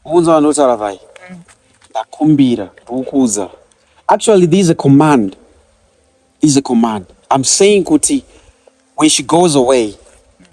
Unza vanhu votaura vai. Ndakumbira, ndikukuudza. Actually there is a command. There is a command. I'm saying kuti when she goes away,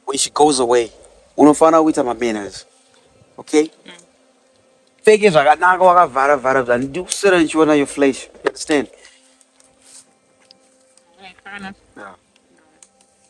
when she goes away, unofanira kuita mabanners. Okay? Mm. pfeke zvakanaka wakavhara vhara bva ndikuswera ndichiona yo flash understand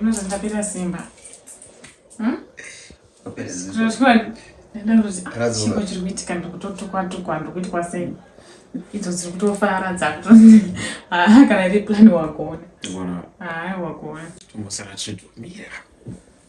Unonzi ndapera simba. Hmm? Chipo chiri kuitika ndikutotukwa tukwa ndikuitwa sei idzo dziri kutofara dzakutokana iri plan wakuona haa wakuona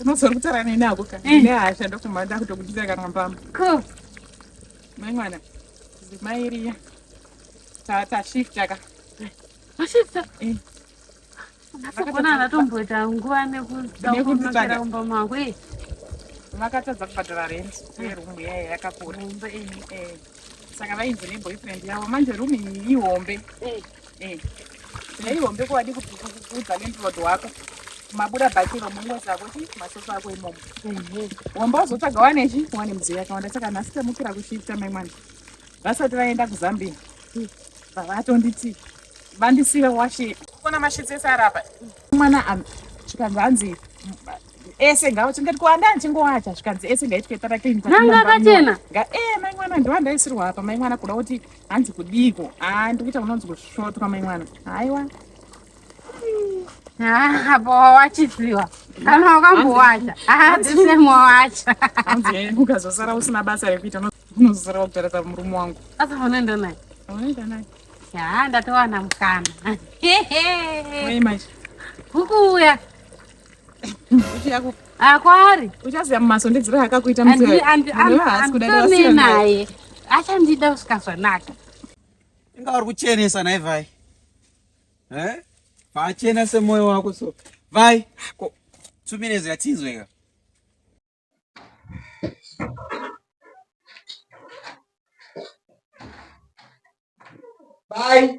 unozoda kutaura neni ako ka eh. nehasha ndokumba ndakutokudira kana mbama mai mwana zimai riya tashifta ka ashifta eh. asogona anatomboita nguva nekudakumakira kumba mako e makatadza kubhadhara rent yerumu yaya yakakura saka vainzi neboyfriend yavo manje rumu iyi ihombe Eh. Nei hombe kwadi kuudza landlord wako. Mabuda bakiro mumwe zako chi masofa ako imomo. Mhm. Hombe uzotsvaga wane chi wane mudziyo yakawanda saka nhasi tamukira kushifta mai mwana. Vasati vaenda kuZambia. Mm. Vatonditi vandisiva washe. Kona mashitsi ese arapa. Mwana am chikanzi hanzi ese ngawo chingati kuwanda ndichingowacha zvikanzi ese ngaitwe tara clean. Nanga akachena. Nga eh mai mwana ndiwandaisirwa apa mai mwana kuda kuti hanzi kudiiko haa ah, ndikuita kunonzi kusvotwa mai mwana haiwa ah, apo wachifiwa kana wakambowacha adzisemwa ah, wacha eh, ukazosara usina basa rekuita unozosara wakutarisa murume wangu asa unoenda naye unoenda naye haa ndatowana mukana hukuuya akwari uchaziva mumaso ndidziro akakuita muhaasi kudadaae naye achandida kusvika zvanaka inga vari kuchenesa nai vai eh? vachena semwoyo wako so vai two minutes yatinzweka Bye.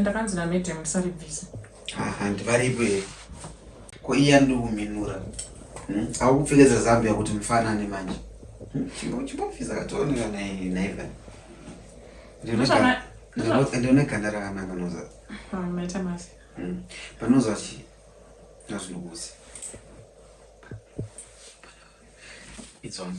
ndakanzi namadam ndisaribvisa handi varipo here ko iye andiuminura hmm? akupfekedza zambi yakuti mufanane manje hmm? chimbofisa katooneka naiva ndione ganda rakanaka noza panoza chi nazvinokusi It's on.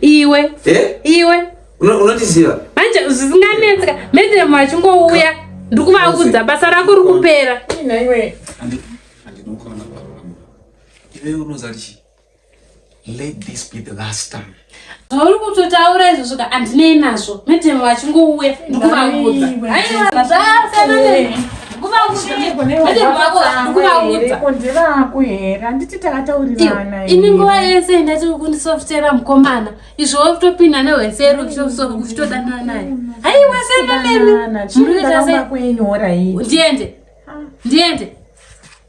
iwe eh? iwe unotiziva manje zvisinganetseka medhiremu achingouya ndikuvaudza basa rako ri kupera zvauri kutotaura izvo zvoka handinei nazvo medhiremu achingouya ndikuvaudza ini nguva yese ndati kundisoftera mukomana izvo wotopinda nehwesero uchitodanana naye haiwa sendonemi ndiende ndiende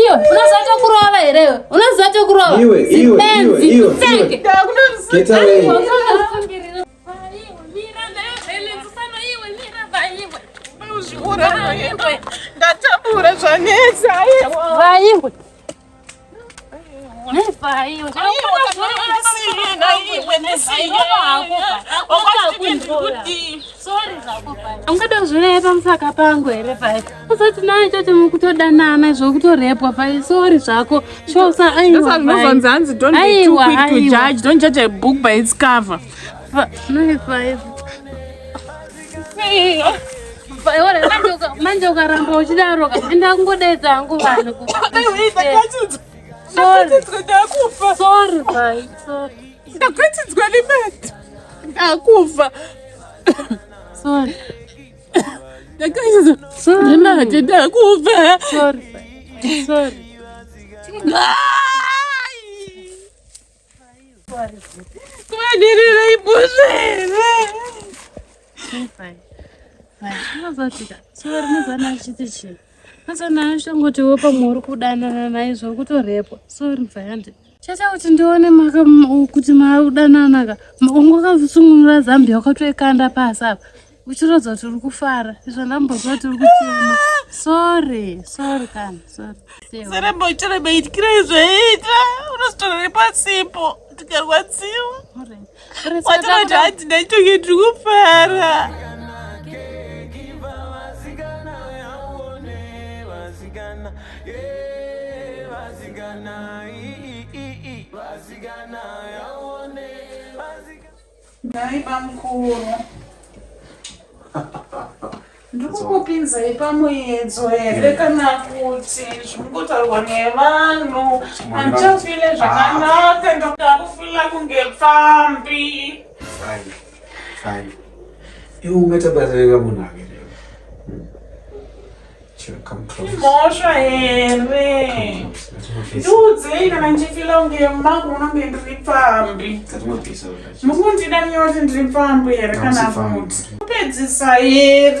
Iyo unoziva chokurova here iwe? Unoziva chokurova? Iwe, iwe, iwe, iwe. Senge. Get away. Ndatambura zvanetsa. Vaiwe. ungada kuzvireva pamusaka pangu here pai usati naye chati mukutodanana zvokutorepwa pai sori zvako shosaaiwaaiwa aiwa manje ukaramba uchidaro ka ende akungodaidza hangu vanhu ndakufa ndakaizoimati ndakufa Kuvadirira ibusha here? Unozotika sori nezana achiti chii? Mazana ashongotiwo pamwe uri kudanana naye zvokutorepwa. Sori mvayandi. Chaita kuti ndione maka kuti makudananaka. Ungokazvisungunura zambia ukatoikanda pasi apa. uchiratidza kuti uri kufara izvo ndambozva kuti uri kuchema sorry sorry kana sorry seremboitira maitira izvoita unozitora nepasipo tikarwadziwa watorati hanzi ndaitoke tiri kufara Vasigana, i, i, i, i, vasigana, yaone, vasigana. Nhai bamukuru. ndikukupinzai pamuedzo here hmm. kana kuti zvikungotaurwa nevanhu handichafile zvakanaka ndokuda kufila kunge pfambi iwe ungatabazarira munhu ake mhosva here ndiudzei kana ndichifila kunge mangu munonge ndiri pfambi mukundida nyoti ndiri pfambi here kana kuti kupedzisa here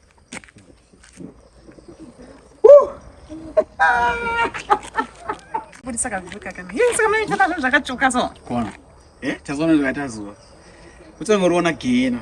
budisa kazivi kakana yei saka munoita nazvo zvakatsvuka so kona e tazoona zvakaita zuva kutsonge uriona gena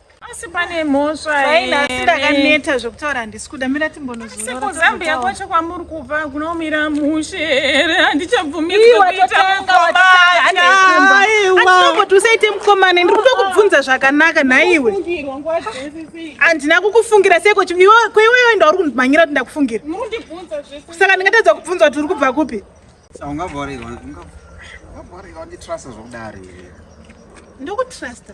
asi pane mhosva asi ndakaneta zvekutaura handisi kuda mira timbonozorokuzambia kwacho kwamuri kubva kunomira mushe here handichavumiiwatotangaaaiwakoti usaite mukomane ndiri kuda kubvunza zvakanaka nhaiwe handina kukufungira seko kweiwewe ndauri kundimhanyira kuti ndakufungira saka ndingatadza kubvunza kuti uri kubva kupi ndokutrusta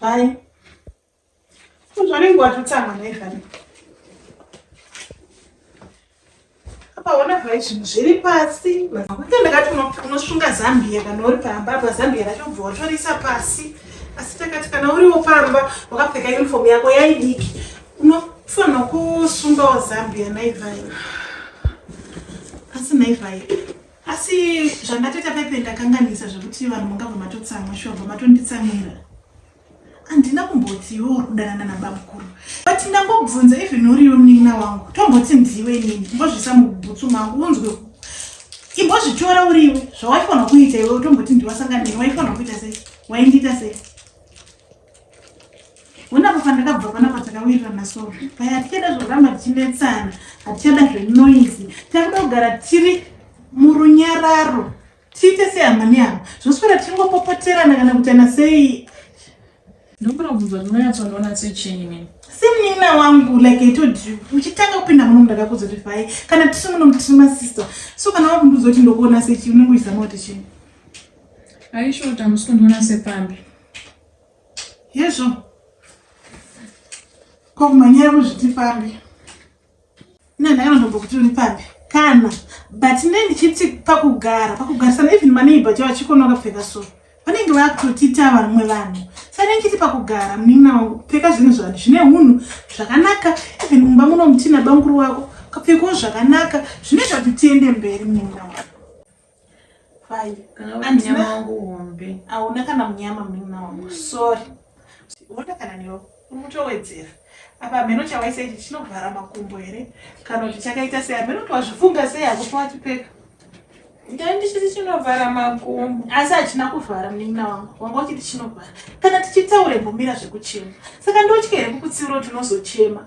Hi. Uzvanenge watotanga naivani. Apa ona vai zvinhu zviri pasi. Makuita ndakati unosunga zambia kana uri pamba apa zambia racho ubva watorisa pasi. Asi takati kana uriwo pamba wakapfeka uniform yako yaidiki. unofanirwa kusungawo zambia naivai asi naivai asi zvandatoita pepe ndakanganisa zvekuti vanhu mungabva matotsamwa shobva matonditsamira handina kumbotiwo kudanana nabamukuru but ndambobvunza even uriwe munin'ina wangu tomboti ndiwe inini mbozvisa mubhutsu mangu unzwe imbozvitora uriwe zvawaifanira kuita iwe utomboti ndiwasanganei waifanira kuita sei waindiita sei Hona apa pandakabva pana patakawirirana so paya hatichada zvoramba tichinetsana hatichada zvenoizi takuda kugara tiri murunyararo tiite sehama nehama zvoswera tichingopopoterana kana kutana sei ndokuda kubvunza ndinonyatsonoona sechii mini semunin'ina wangu like i told you uchitanga kupinda muno mundakakudza kuti vhai kana tiri muno mutiri masister so kana wakundiudza kuti ndokuona sechii unenge uchizama kuti chii aisho kuti hamusi kundiona sepambi Hezvo. Kwa kumanyira muzviti pambi. Ina nayo ndombo kuti uri pambi. Kana but ne ndichiti pakugara, pakugarisana even maneighbor jawa chikono akapfeka so. Vanenge vakutotita vamwe vanhu. Sare ndichiti pakugara munin'ina wangu kupfeka zvinhu zvanhu zvine hunhu zvakanaka even mumba muno mutina banguru wako kapfekawo zvakanaka zvinoita kuti tiende mberi munin'ina wangu. Fine. Andina wangu hombe. Auna kana munyama munin'ina wangu. Sorry. Vota kana newe. Uri kutowedzera. Apa hameno chawaisa ichi chinovhara makumbo here? Kana kuti chakaita sei? Hameno kuti wazvifunga sei hako pawachipfeka. Ndandisisi chinovhara makumbo. Asi hachina kuvhara munin'ina wangu. Wanga uchiti chinovhara. Kana tichitaure mbomira zvekuchema. Saka ndotya here kukutsiura kuti unozochema?